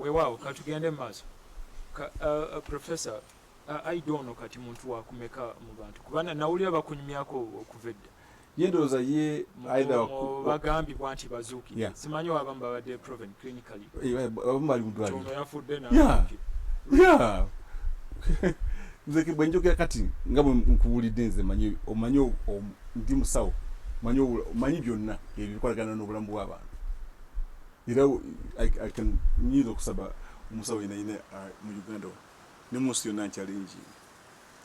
weewaawo katugende mu maaso uh, uh, professor uh, aida ono kati muntu wakumeka mu bantu kubana nawulira bakunyumyako okuva edda yendowooza ye aidabagambibwa nti bazuukire simanyi wabamu babadde proven nze bwenjogera kati nga nkuwulidde nze manyi omanyi ndi musawo manyi omanyi byonna ebyo bikolagana n'obulamu bw'abantu era nyinza okusaba omusawo yenayina uh, mu uganda ne munsi yonna nkyalingi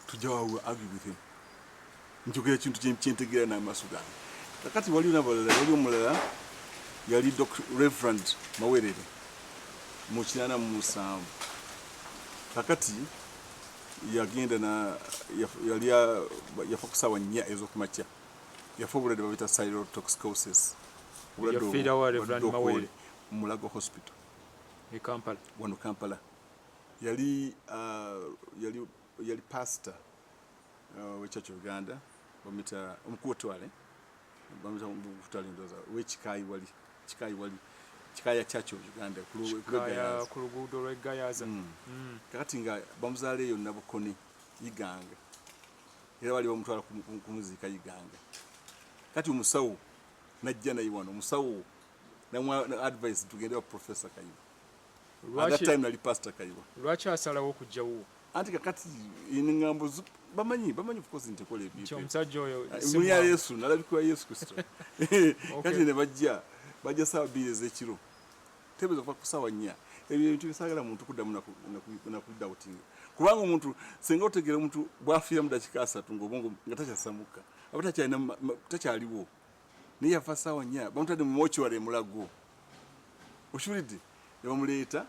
tujja wawe argue with him njogera ekintu kyentegeera n'amaaso gange kakati waliwo nabalala wali omulala yali reverend mawerere mu kinaana mu musanvu kakati yagenda na yali yafa ku saawa nnya ez'okumakya yafa obulwadde babita cyrotoxicosis obulwadde mulago hospital e wano kampala yali uh, yali yali pastor uh, wechurch of uganda bamita omukulu wetwale bamita omukulu wetwale ndoza wekikayi wali kikayi wali kikaya church of uganda ku luguudo lwegayaza mm. mm. kakati nga bamuzaala eyo nabukoni iganga era bali bamutwala kumuziika iganga kati omusawo najja naye wano omusawo namwa advice tugende wa professor kayiba lwaki asalawo okujjawo anti kakati engambo bamanyi bamanyi ofcourse nti ekola ebyomusajja oyo ah, muli ya yesu nalabikira yesu kristo kati ne bajja bajja saawa bbiri ezekiro tebeza okuva ku saawa nnya ebyo ebintu bisagala muntu kuddamu nakudabutinga kubanga omuntu senga otegera omuntu bwafiira mu dakika asatu ngaobongo nga takyasamukka aba takyaliwo naye yafa saawa nya bamutadde mu mocuary emulago okiwulidde nebamuleeta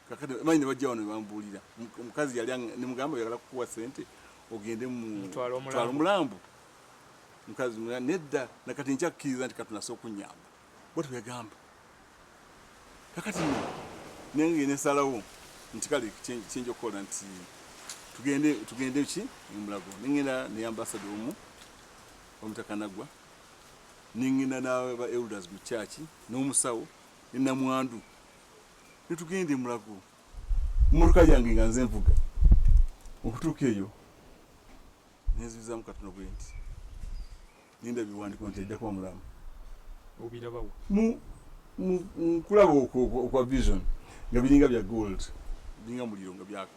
kakati manyi nebajja wano nebambuulira omukazi yali nemugamba yagala kukuwa sente ogende mutwala omulambo mukazi nedda nakati nkyakkiriza nti katunasa okunyamba bwati bweyagamba kakati nenge nesalawo nti kale kyenja okukola nti tugende tugende ki emulago nengenda neyambasada omu Omutaka Naggwa ne ŋŋenda n'aba elders mu church n'omusawo ne Namwandu ne tugenda e Mulago mmotoka yange nga nze nvuga okutuuka eyo ne nzibizaamu katono bwe nti ninda biwandiko nti ajja kuba mulamu obirabawo mu nkulaba okwa vision nga biringa bya gold biringa muliro nga byaka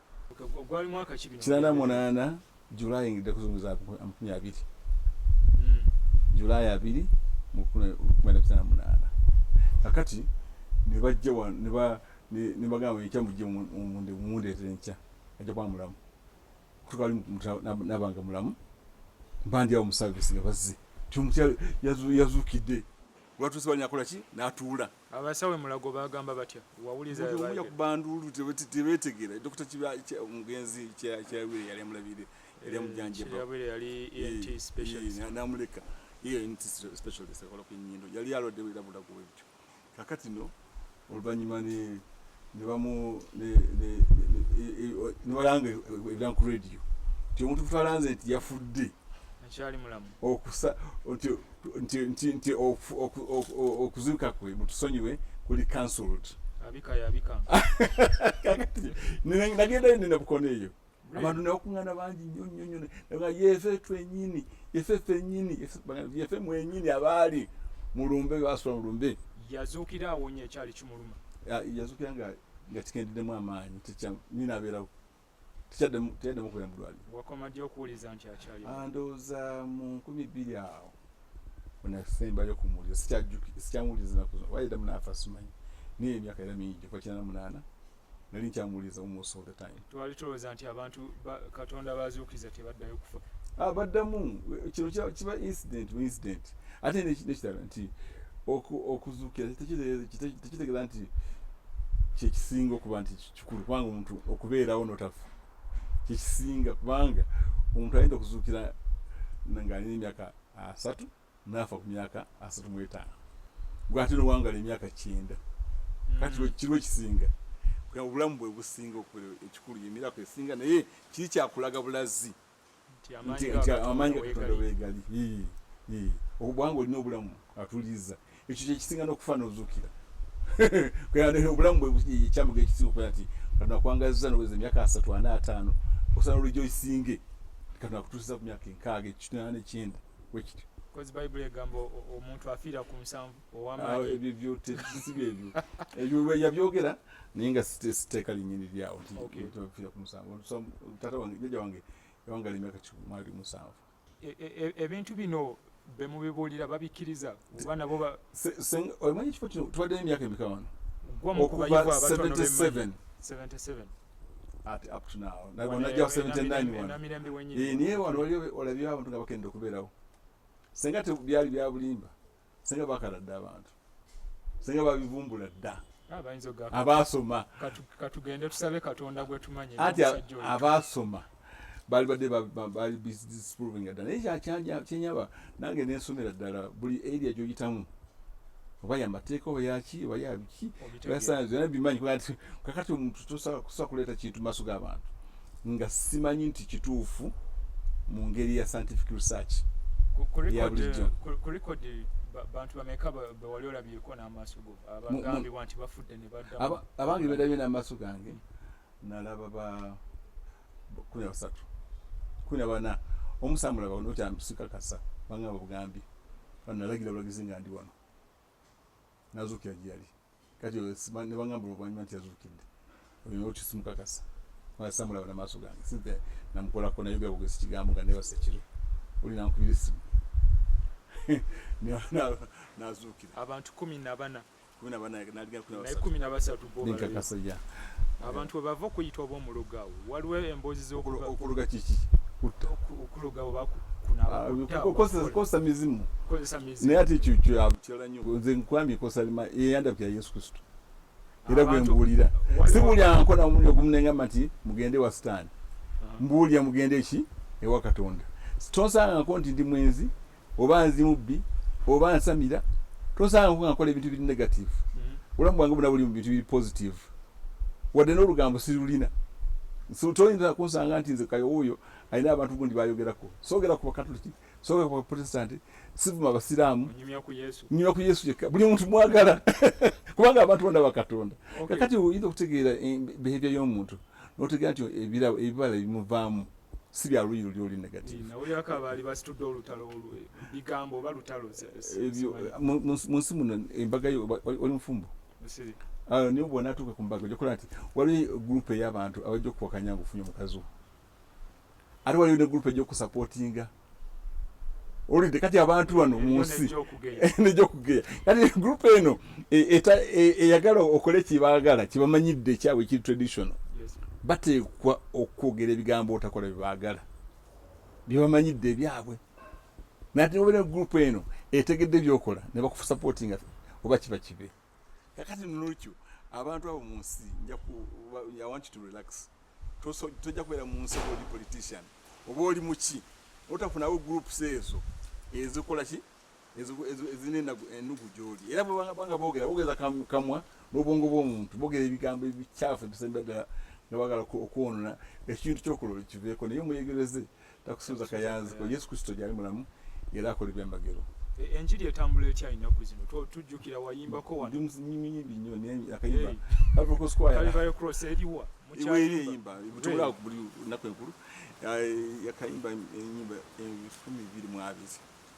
gwali mwaka ki bino kinana munana july ngidde kuzunguza amakumi abiri hmm. july abiri mukumi na kinana munana kakati nebajja wano neba nebagamba ekya mujje munde mundeetera enkya ajja kuba mulamu kutuka ali nabanga mulamu mbandi awo musavisi nga bazze timukyalo yazukidde lwatuuse banyakola ki natuula Abasawo e Mulago bagamba batya? Wawuliza bye baayogera? yakuba nduulu tebeetegeera. Dokita omugenzi Kyeyabwire yali amulabirira, yali amujanjaba. Kyeyabwire yali ENT specialist. N'amuleka ENT specialist akola ku nnyindo. Yali alwadde era Mulago bwe bityo. Kaakati no oluvannyuma ne. nebalanga ebira ku radio nti omuntu kutwalanze nti yafudde nti okuzuuka kwe mutusonyiwe kuli cancelled nagendayo nina bukono eyo abantu nebakuŋana bangi nnyo nnyo nnyo nga yefe twenyini yefe fenyini yefe mwenyini abaali mulumbe basula mulumbe yazuukira awonye ekyali kimuluma yazuukira nga nga kikendeddemu amaanyi nyina abeerawo tekyaddemu kubeera mulwalirondowooza ah, mu nkumi bbiri awo onasembayo kumuwulira sikyamuwuliriza nakuzo wayeddamu naafa simanyi naye emyaka era mingi gyofa kinana munaana nali nkyamuwuliriza almost all the time twali tulowooza nti abantu katonda bazuukiza tebaddayo kufa ah, baddamu kino kiba incident bu incident ate nekitala nti okuzuukira tekitegeeza nti kyekisinga okuba nti kikulu kubanga omuntu okubeerawo notafa kyekisinga kubanga omuntu ayinza okuzuukira ngaalina emyaka asatu naafa ku myaka asatu mu etaano gwe ate nowangala emyaka kyenda kati mm. kiriwo ekisinga obulamu bwe businga okubeera ekikulu yemirako esinga naye kiri kyakulaga bulazi nti amaanyi gakatonda wegali obwanga olina obulamu atuliza ekyo kyekisinga nokufa nozukira obulamu bwekyamuga ekisinga okuba nti katonda akwangaziza noweza emyaka asatu ana ataano osana olujo isinge katonda akutusiza ku myaka enkaaga ekitnana nekyenda wekityo kozi bayibuli egamba omuntu afiira ku nsanvu owamaanyiebyoyabyogera naye nga siteeka linyini lyawo ntiafiira ku nsanvu tata wange jaja wange yawangala emyaka kimwali musanvu E, e, e, ebintu bino bemubibuulira babikiriza oba nabo omanyi ekifo kino tubaddeyo emyaka emeka wano okuva 77 naye wano waliyo olabyewo abantu nga bakenda okubeerawo senga tebyali byabulimba senga bakala dda abantu senga babivumbula dda abaasoma katugende tusabe katonda gwetumanyi anti abaasoma bali badde bali disproving ddala naye kyakyenyaba nange nensomera ddala buli area gyoyitamu oba yamateeka oba yaki oba yabiki oyasanze yona bimanyi kakati omuntu tosobola kuleeta kintu maaso g'abantu nga simanyi nti kituufu mu ngeri ya scientific research yabulijjo bantu bameka bewali olabyeko n'amaaso go abagambibwa nti bafudde ne baddamu abange bedabye n'amaaso gange nalaba ba kumi na basatu kumi na bana omusambula baona okyambisikakasa bangamba bugambi banalagira bulagizi nga ndi wano nazuukira gye yali kati ne bagamba oluvanyuma nti yazuukidde olina okisimukakasa samulaba namaaso gange sinte namukolako naye gabugesi kigambo nga nebasa ekiro oli nankubira esimu nazuukira abantu kumi nabana kumi nabana naligakumi nabasatu nenkakasa ya abantu webava okuyita oba omuloga awo waliwo emboozi zokuloga kiki okuloga oba kunabakozesa ah, mizimu naye ate ekyo kyakitala nyo nze nkwambye kosa eyandabika ya yesu kristo era gwe mbuulira si buli ankola omuliro gumunengamba nti mugende wa sitaani mbuulira mugende ki ewa katonda tonsanganko nti ndi mwenzi oba nzi mubbi oba nsamira tosanga nga nkola ebintu biri negative mm-hmm. obulamu bwange buna buli mu bintu biri positive wadde n'olugambo sirulina toyinza kunsanga nti nze kayo oyo alina abantu gundi bayogerako sogera ku bakatoliki sogera ku baprotestanti sivuma abasiraamu nyumya ku yesu yekka buli muntu mwagala kubanga abantu bona bakatonda kakati oyinza okutegeera eh, behavior y'omuntu notegeera nti ebibala ebimuvaamu si bya luyi luli oli negative mu nsi muno embaga yo oli mufumbo ah, niyo bwona atuuka ku mbaga ojakola nti waliwo gurupu ey'abantu abajja okuwakanya nga ofunye omukazi wo ate waliwo ne gurupu ejja okusapotinga olidde kati abantu bano mu nsi nejja okugeya kati gurupu eno e, e, eyagala okole kyebaagala kyebamanyidde ekyabwe ekiri traditional bateekwa okwogera ebigambo otakola byebaagala byebamanyidde ebyabwe nati nobeera gurupu eno etegedde byokola nebakusapotinga oba kiba kibe kakati nolwekyo abantu abo munsi i want you to relax tojja kubeera munsi oba oli politician oba oli muki otafunawo groups ezo ezikola ki ezirina ennugu gyoli era bwebanga bogera bogeza kamwa n'obwongo bw'omuntu bogera ebigambo ebikyafu ebisembera ddala nga bagala okwonona ekintu kyokulola kiveeko naye omwegereze takusuuza kayanzi ko yesu kristo gyali mulamu era akola ebyamagero e, enjiri etambula etya ennaku zino tujjukira wayimbako wanyimiyimbi nyo akayimba avokosquayaros eriwa eriyimba tubulaa ku buli nnaku enkulu yakayimba enyimba ebifumi biri mwabiri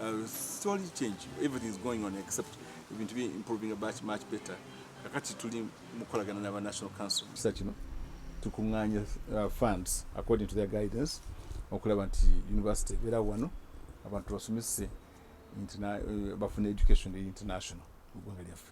Uh, story change everything is going on except ebintu bi improving much much better kakati tuli mukolagana naba national council kisa kino tukuŋŋaanya uh, funds according to their guidance okulaba nti university ebeera wano abantu basomese uh, bafuna education eri international mu ggwanga lyaffe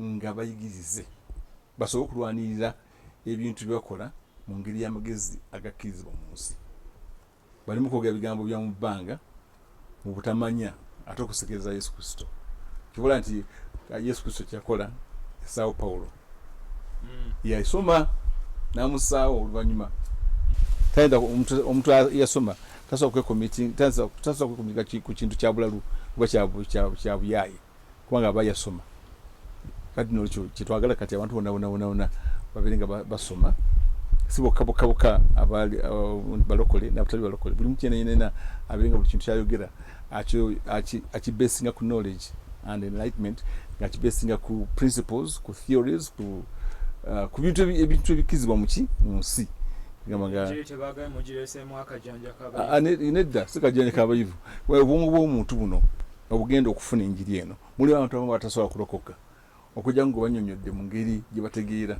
nga bayigirize basobole okulwanirira ebintu bye bakola mu ngeri y'amagezi agakkirizibwa mu nsi balimu kwogera bigambo bya mu bbanga mu butamanya ate okusekereza yesu kristo kibola nti ah, yesu kristo kyeyakola esaawo pawulo mm. yasoma namusaawo oluvannyuma tayinza omuntu yasoma tasobola kwekomitinga ku kintu kya bulalu oba kya buyaaye kubanga aba yasoma kati nolwekyo kyetwagala kati abantu bonabonabonabona babeere nga basoma si bokka bokka bokka uh, balokole nabatali balokole buli mutu yenayenena abeere nga buli kintu kyayogera akibesinga ku knowledge and enlightenment nga akibesinga ku principles ku theories ku uh, ku bintu ebintu ebikizibwa muki mu nsi nedda si kajanja kabayivu obwongo bw'omuntu buno obugenda okufuna enjiri eno mulimu abantu abamu batasobola kulokoka okujja nga banyonyodde mu ngeri gye bategeera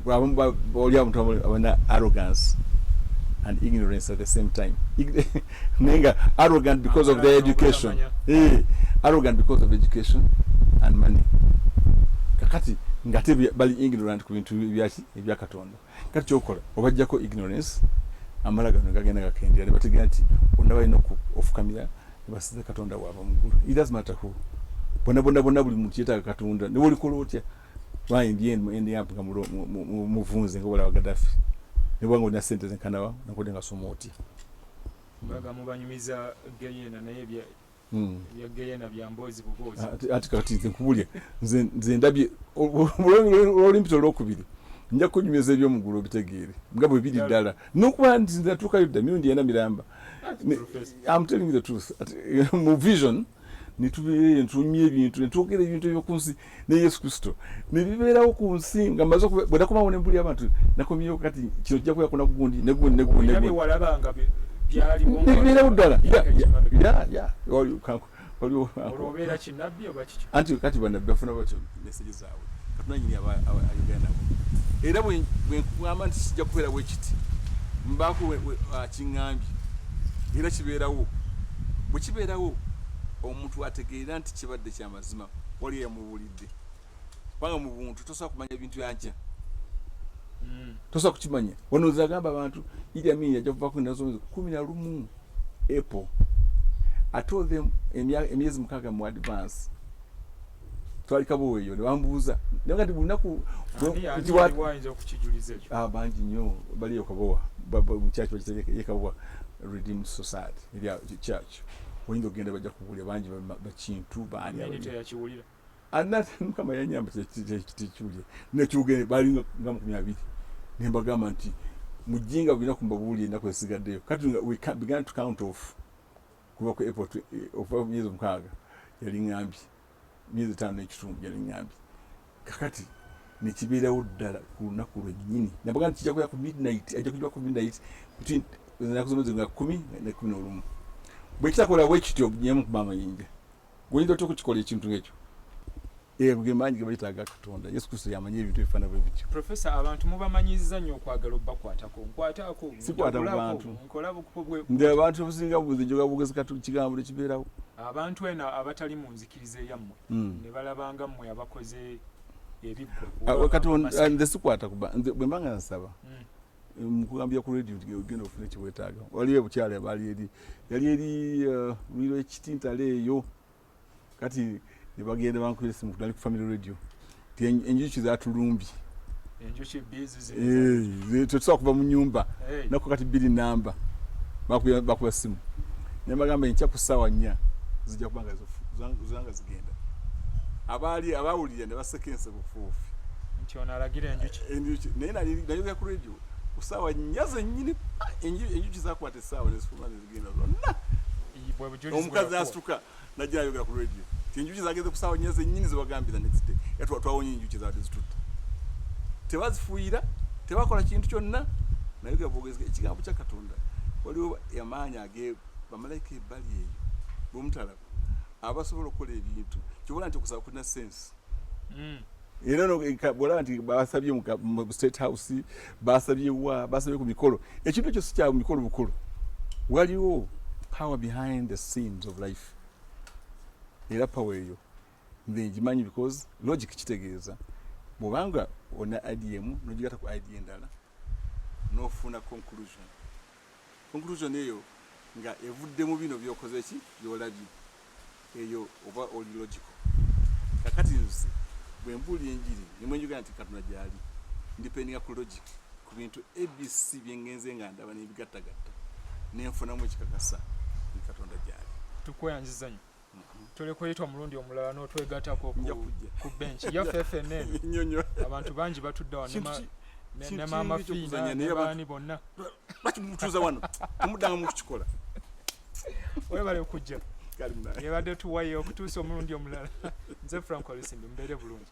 abamu oli abantu abana arrogance and ignorance at the same time naye nga arrogant because of their education eh, arrogant because of education and money kakati ngate bali ignorant ku bintu ebyakatonda kati kyokola obajjako ignorance amala gano gagenda gakendera ne bategera nti bonna balina ofukamira ne basiza katonda waabwe mu ggulu it does matter who bona bona bona buli muntu yetaaga katonda ne wolikola otya lwayi ndi eno endi yampu nga muvunze nga obalawa gadafi ne bwanga olina sente zenkanawa nakodde nga soma otya mbaga mubanyumiza geyena naye Hmm. ati kati nze nkubulya nze ndabye olwolimpita olwokubiri nja kunyumyoza ebyomugulu obitegeere nga bwe biri ddala nokuba nti natuukayo dda mirundi ena miramba am telling the truth mu vision netubeereyo netunyumya ebintu netwogera ebintu ebyokunsi ne yesu kristo nebibeerawo ku nsi nga maze bwenakomawo nembuli abantu nakomyewo kati kino kijja kubeera kuna gundi negundi negundi nebibeerawo ddala anti kati banabbi bafuna batyo meseje zaabwe katunanyini ayogera nabo era bwenkugamba nti kijja kubeerawo ekiti mbaako kiŋambye era kibeerawo bwekibeerawo omuntu ategeera nti kibadde kyama mazima wali eyamubuulidde kubanga mu buntu tosobola kumanya bintu yankya hmm. tosobola kukimanya wano zagamba abantu idi amin yajja kuvako enaku zomwezi kumi na lumu apple atold them emyezi mukaaga mu advance twali kabuweeyo nebambuuza naye kati bulunaku ah, bangi nnyo baliyo kabowa mukyaki bakitegeka ye kabowa redeemed society church oyinza okugenda bajja kuwulira bangi bakintu baaniyakiwulira anate mukama yanyamba tekiwulire nekyogende bali nga mukumi abiri ne mbagamba nti mujinga bulina kumbabuulira ennaku esigaddeyo kati we began to count off kuva ku april eh, omukaga yali ngambye myezi etaano n'ekitundu gyaliŋŋambye kakati ne kibeerawo ddala ku lunaku lwennyini nabaga nti kijja kubeera ku midnight ajja kujja ku midnight between ennaku zomezi nga kumi ne kumi n'olumu bwe kitakola bwe kityo nyemu kuba amayinja gwoyinza otya okukikola ekintu ng'ekyo ego eh, ge maanyi ge bayita aga katonda yesu kristo yamanyi ebintu ebifaana bwe bityo profesa abantu mubamanyiza nnyo okwagala obubakwatako nkwataako sikwata ku bantu nze abantu obusinga buzi njoga bugezi katu kigambo tekibeerawo Abantu eno abatali mu nzikiriza eyammwe hmm. ne balaba nga mmwe abakoze ebiggwa. Kati ah, nze sikwata kuba bwe mba nga nsaba hmm. mukugambira ku radio nti ogenda ofuna ekiwetaaga waliyo ebukyala baali eri yali eri uh, lwiro ekitintala eyo kati nebagenda bankubira esimu kudali ku family radio enjuki zatulumbye eh, tetusobola kuva mu nyumba nako kati biri namba bakuba simu naye bagamba enkya ku ssaawa nnya zijja kuba nga zanga zigenda abaali abawulira ne baseka enseko fuufi eh, naye nayogera ku radio ku ssaawa nnya zennyini enjuki zakwata essaawa nezifuluma nezigenda zonna omukazi asituka najja ayogera ku radio ti enjuki zageze kusaawa nnya zennyini zebagambye the next day era twawonye enjuki zaadde zitutte tebazifuuyira tebakola kintu kyonna naye gabogezi ekigambo kya katonda waliwo amaanyi age bamalayika ebbali eyo bwemutalaba abasobola okukola ebintu kyobola nti okusaba kulina sense mm. era ono bwolaba nti basabye mu state house basabye wa basabye ku mikolo ekintu ekyo si kya mikolo bukulu waliwo power behind the scenes of life era power eyo nze ngimanyi because logic kitegeeza bwobanga ona idm nogigata ku id endala nofuna conclusion conclusion eyo nga evudde mu bino byokoze ki byolabye eyo oba oli logical kakati nze bwe mbuulira enjiri nemwe njogera nti katonda gyali ndipendinga ku logic ku bintu abc byengenze nga ndaba nebigattagatta nenfunamu ekikakasa ni katonda gyali tukweyanzizanyo tuli kuyita omulundi omulala n'otwegatako ku benki yaffe fnn abantu bangi batudde wa ne maama fiina ne baani bonna lwaki mutuuza wano omudanga mukukikola webale okujja yebadde tuwayo okutuusa omulundi omulala nze frank olusimbi mubeere bulungi